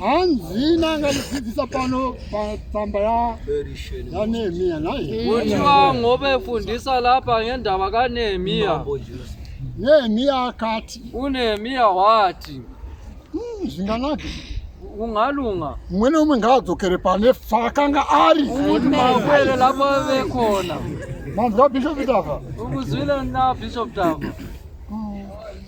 hanzi nanga lidzidzisa pano patsamba yanehemiya naye kuti vangove fundisa lapa ngendava kanehemiya nehemiya akati unehemiya wati hmm, zvinganake ungalunga umwe neumwe ngaadzokere pane faakanga ari kuti makwere lapo vekona manzwa bishop dava ukuzwile na bishop dava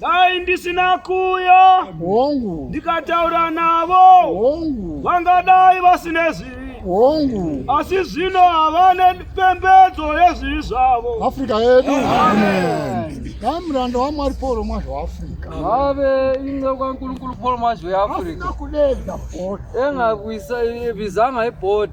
dai ndisina kuya hongu ndikataura navo hongu vangadai vasine zvivi hongu asi zvino havane pembedzo yezvivi zvavo afrika yedu dai muranda wamwari pauro mwazvo waafrika vave inga kwankulunkulu paul mazwi yeafrika kudedza bhoti engakuisa vizanga ibhoti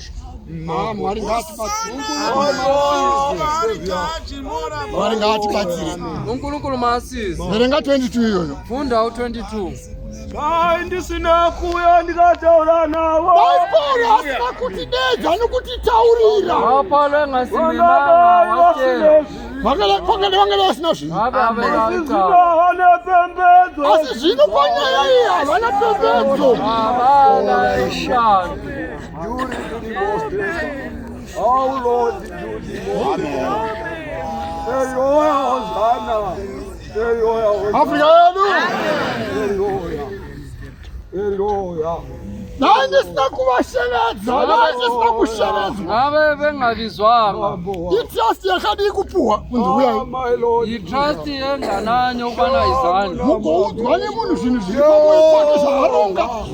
Mwari ngaatibatsire. Unkulunkulu maasizi. Verenga 22 iyoyo. Fundawo 22. Dai ndisina kuuya ndikataura navo. Baibheri asina kutidedza nokutitaurira. Vapale ngasimimana wake. Vangele vangele asina zvinhu. Asi zvino panyaya iyi havana pembedzo. Havana ishando. Dai ndisina kuvashevedza, dai ndisina kushevedzwa. Ave vengavizwanga. Itrust yakadii kupuhwa munhu uyai. Itrust yengananyo kwana izani. Mukoudzwa nemunhu zvinhu zviri pamoyo pake zvaaronga.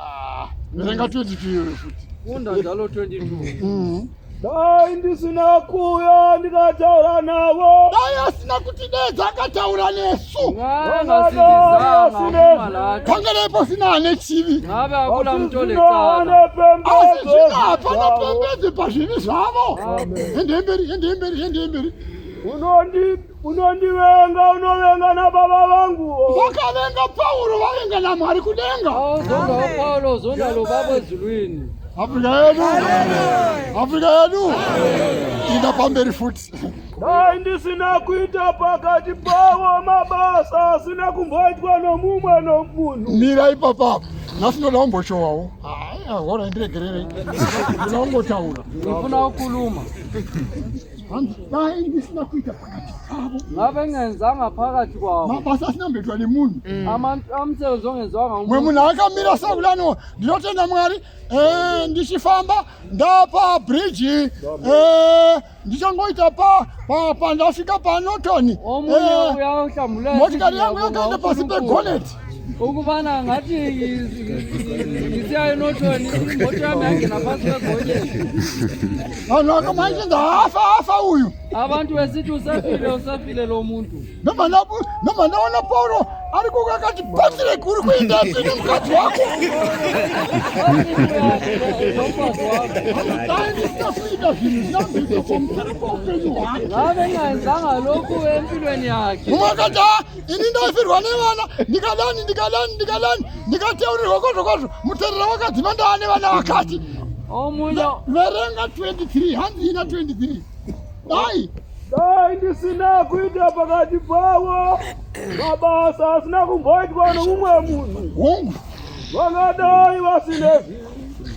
Ah, ndotenga 22 euro futi. Honda dzalo 22. Mhm. Dai ndisina kuuya ndikataura navo. Dai asina kuti dedza akataura nesu. Ngana sindizanga kumala. Kangere ipo sina ane chivi. Ngave akula mtole kana. Asi zvina hapana pembedzi pazvivi zvavo. Ende mberi, ende mberi, ende mberi. Unondi unondivenga unovenga na baba vangu vakavenga pauro vavenga na mwari kudenga zondawo paulo zondalo baba ezulwini afrika yedu afrika yedu inda pamberi futi dai ndisina kuita pakati pavo mabasa asina kumboitwa nomumwe nomunhu mira ipapa nhasi ndoda kumboshowawo hora ndiregererei ndoda kungotaura ndofuna kuluma hanzi dai ndisina kuita pakati pavo ngavengenzanga phakathi kwavo mabasa asinambeitwa nemunhu mm. amsebenzi ongenzwanga mwe munhu akamira sekulano ndinotenda mwari eh, ndichifamba ndapa bridge eh, ndichangoita pa pandasvika panoton eh, motikari yangu yakaenda pasi pegoneti uku vana ngati misi ainotoni mboto yami yangena pasi pegonye vanhu vakamwaichinza hafa hafa uyu abantu vesiti usafile usafile lo muntu nomanaona pauro ari kuku akati patire kuri kuenda pini mukadzi wako aisitakuita zvinhu zvinazviito pamusoro poupenyu hwake vavengaenzanga loku empilweni yake umwe akati ini ndaifirwa nevana ndikadani ndikadani ndikadani ndikateurirwa kwazvo kwazvo muterera wakadzima ndava nevana vakati oh, verenga 23 hanzi ina 23 dai dai ndisina kuita pakati pavo mabasa asina kumboitwa nomumwe munhu vangadai vasine zvinhu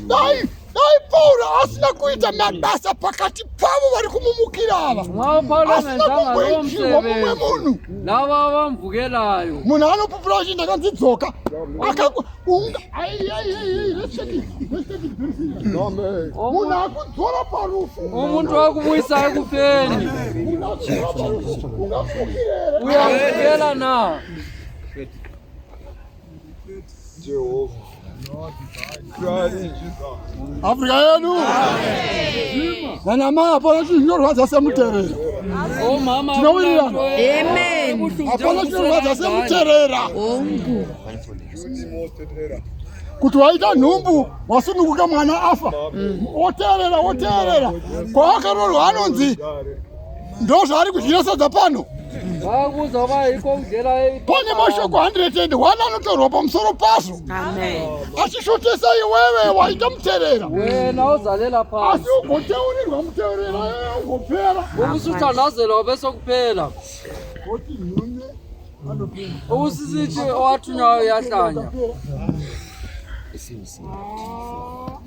dai dai pauro asina kuita mabasa pakati pavo vari kumumukira ava asina kumboitirwa mumwe munhu lava vamvukelayo munhu anopupura uchi ndakanzi dzoka munhu akudzora parufu umuntu wakumuyisa ekufeni uyamvukela na Afrika yedu nanamai hapana chinhu chinorwadza semuterera tinowirirana hapana chinorwadza semuterera kuti waita nhumbu wasununguka mwana afa woteerera woteerera kwawakarorwa anonzi ndozvaari kudyira sadza pano pane mashoko 101 anotorwa pamusoro pazvo achishotesa iwewe waita muterera asi ugoteurirwa muterera ugopera usizichi owatunayo yahlanya Sim, sim. Ah.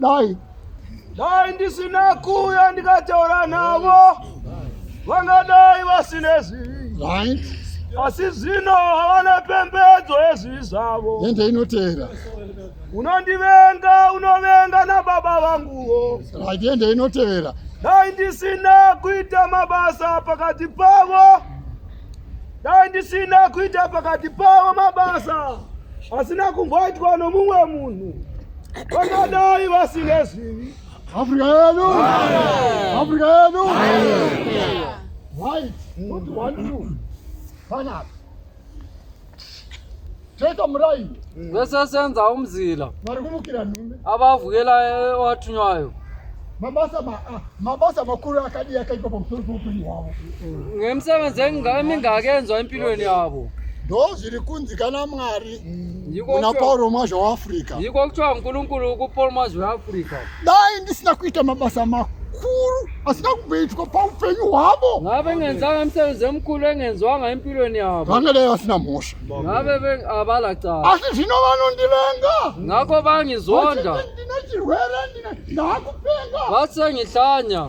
dai dai ndisina kuya ndikataura navo vangadai vasine zvivi right asi zvino havana pembedzo yezvivi zvavo ende inoteera unondivenga unovenga nababa vanguwo right ende inotevera dai ndisina kuita mabasa pakati pavo dai ndisina kuita pakati pavo mabasa asina kumboitwa nomumwe munhu vangadai vasine zvivi afrika yedu afrika yedu right not one two panapa toita murai mm. vese senza umzila vari kumukira nhume avavuyela watunywayo eh, mabasa ah, mabasa makuru akadii akaitwa pamusoro peupenyu hwavo mm. ngemisebenzi emingaki enzwa empilweni yavo ndo zviri kunzi kana mwari mm. kuna pauro mwazha weafrica yiko kuthiwa nkulunkulu kupaul mwazha weafrica dai ndisina kuita mabasa makuru asina kumboitwa paupenyu hwavo ngave ngenzanga msebenzi emkhulu engenzwanga empilweni yavo vangadai vasina mhosva ngave ve- avala cala asi zvino vanondivenga ngakho vangizonda Vachiti ndine chirwere ndine ndakupenga vathi sengihlanya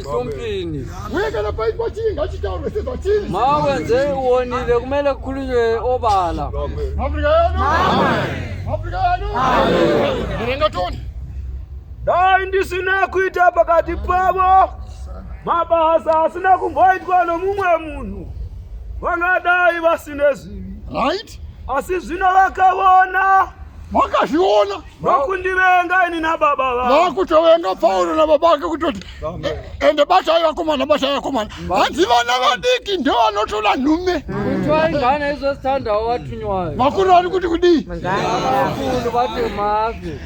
Sompini. Uye kana paitwa chii ngachitaurwe sezvachiri. Mawe nzee uonile kumele kukhulunywe obala. Afrika yedu. Afrika yedu. Murenga toni. Dai ndisina kuita pakati pavo mabasa asina kumboitwa nomumwe munhu vangadai vasine zivi. Right? Asi zvino vakavona. Vakazviona. vakundivenga ini nababa vavo vakutovenga pauro nababa vake kutoti eh, ende batai vakomana batai vakomana hanzi vana vadiki ndo vanotola nhume twaingana izvo standawo vatunywayo vakuru vari kuti kudii vakuru vatemazve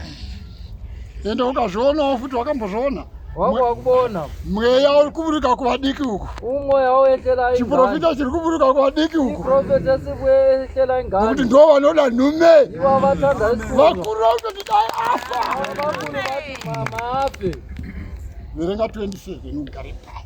ende ukazvionawo futi wakambozviona wako wakuona mweya uri kuburuka kuvadiki uku umweya woehlera chiprofita chiri kuburuka kuvadiki uku profeta sikuehlera ingani nokuti ndo vanoda nhume iva vatanda vakuru vakutoti dai afa vakuru vati mama afe verenga 27 unogare pasi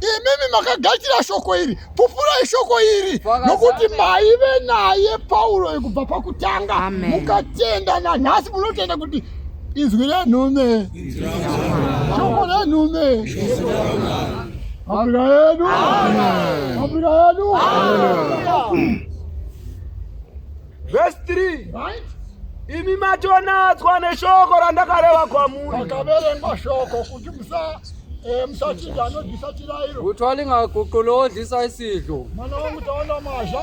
imimi makagadzira shoko iri pupurai shoko iri nokuti maive naye pauro kubva pakutanga mukatenda nanhasi munotenda kuti izwi renhume shoko renhume afrika yedu afrika yedu Verse 3. Right? Imi matonadzwa neshoko randakareva kwamuri. Makaverengwa shoko kuti musa eh, musachinja anodisa chirayiro. Kutwalinga kukolo odisa isidlo. Mwana wamutaona mwazha.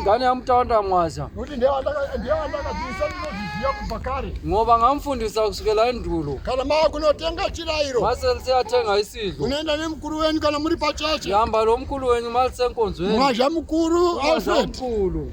Ngane yamutaona mwazha. Kuti ndiye andaka ndiye andaka disa ndinozviziva kubva kare. Ngoba ngamfundisa kusukela endulo. Kana ma kunotenga chirayiro. Masense atenga isidlo. Unoenda nemukuru wenyu kana muri pacheche. Yamba lo mukuru wenyu malisenkonzweni. Mwazha mukuru Alfred. Mukuru.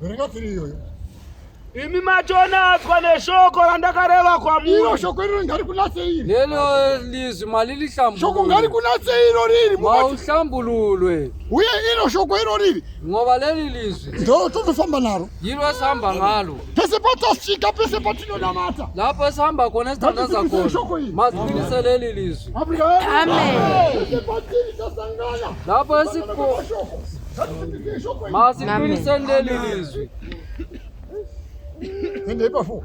Verenga tiri iyoyo. Imi machonaswa neshoko randakareva kwamuri. Iro shoko iro ngari kunatse iri. Lelo lizwi malili hlambulo. Shoko ngari kunatse iro riri. Mauhlambululwe. Uye iro shoko iro riri. Ngoba leli lizwi. Ndo totofamba naro. Yiro samba ngalo. Pese patosvika pese patinonamata. Lapo samba kona sitanda zakona. Mazwinise leli lizwi. Amen. Lapo siko. Masikilisendelizwi. Endei pafo.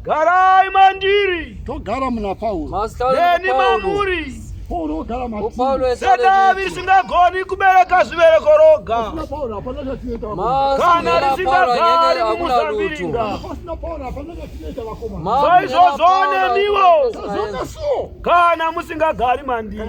Garai mandiri. Togara muna Paulo. Deni mamuri. Paulo ogara matiri. Sedza risingagoni kubereka zvibereko roga. Kana risingagari mumusambiringa. Saizvozvo nemiwo. Kana musingagari mandiri.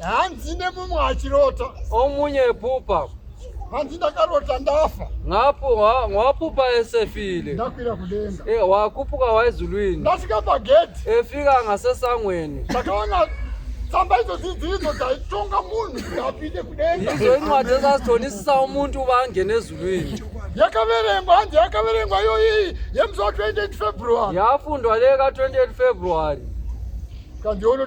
hanzi nemumwe achirota omunye epupa hanzi ndakarota ndafa ngapo wapupa esefile ndakwira kudenga e, wakupuka waizulwini ndasvika pagedhi efika angasesangweni ndakaona tsamba idzo dzidzidzo dzaitonga munhu kuti apinde kudenga idzo incwadi dzazazitonisisa umuntu uba angene ezulwini yakaverengwa hanzi yakaverengwa iyoyi yemusi wa 28 february yafundwa leka 28 february kandiona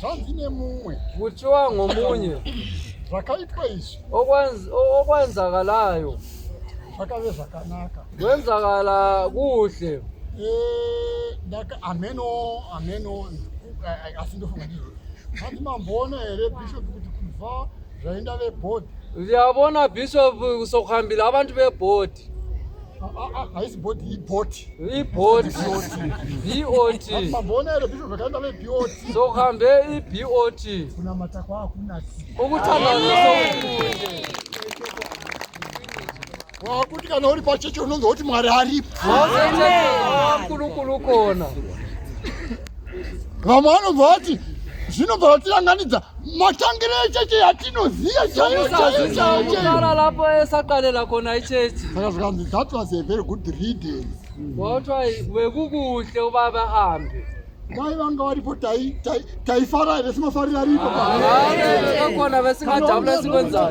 zvanzi nemumwe kutyiwa ngomunye zvakaitwa izvi okwenzakalayo zvakave zvakanaka kwenzakala kuhle eh, ameno ameno eh, asi ndofunga ndizvo hanzi mamboona here bishop kuti kubva zvaenda vebhodhi ndiyabona bishop kusokuhambira abantu vebhodhi haisi body iboti iboti bot mamboona here bhisho zvakaenda vebot sokambe ibot kunamata kwaakunasi ukutanaokunde wakuti kana uri pachechi unonzwa kuti mwari aripo wakurukuru kona vamwe vanobva vati zvinobva vatiranganidza matangiro echeche yatinoziva chaiyoaaapoesaqalela kona icheche saka zvikanzi that was a very good reading kotwa wekukuhle ubaba hambe dai vanga varipo taifara here simafarira ripokona vasingajabula sikonzaa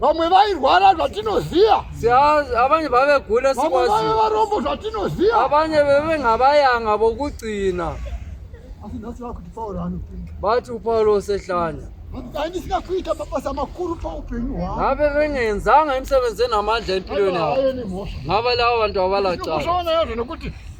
vamwe vairwara zvatinoziva avanye vavegula vamwe vave varombo zvatinoziva avanye veve ngavayanga vokugcina asi nhasi vakuti pauro anopinda vati upauro osehlanya dai ndisina kuita mabasa makuru paupenyu hwangu ngave vengeenzanga imisebenzi enamandla empilweni yavo ngava lava vantu avalacaa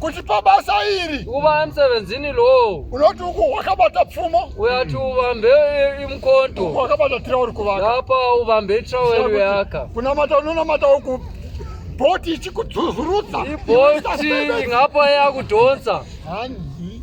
kuti pabasa iri ukuba emsebenzini lowo unoti uku wakabata pfumo uyati ubambe imkonto wakabata tirauri kuvaka apa ubambe tirauri yaka kunamata unonamata uku bhoti ichikudzuzurudza ibhoti ingapa yakudhonza hanzi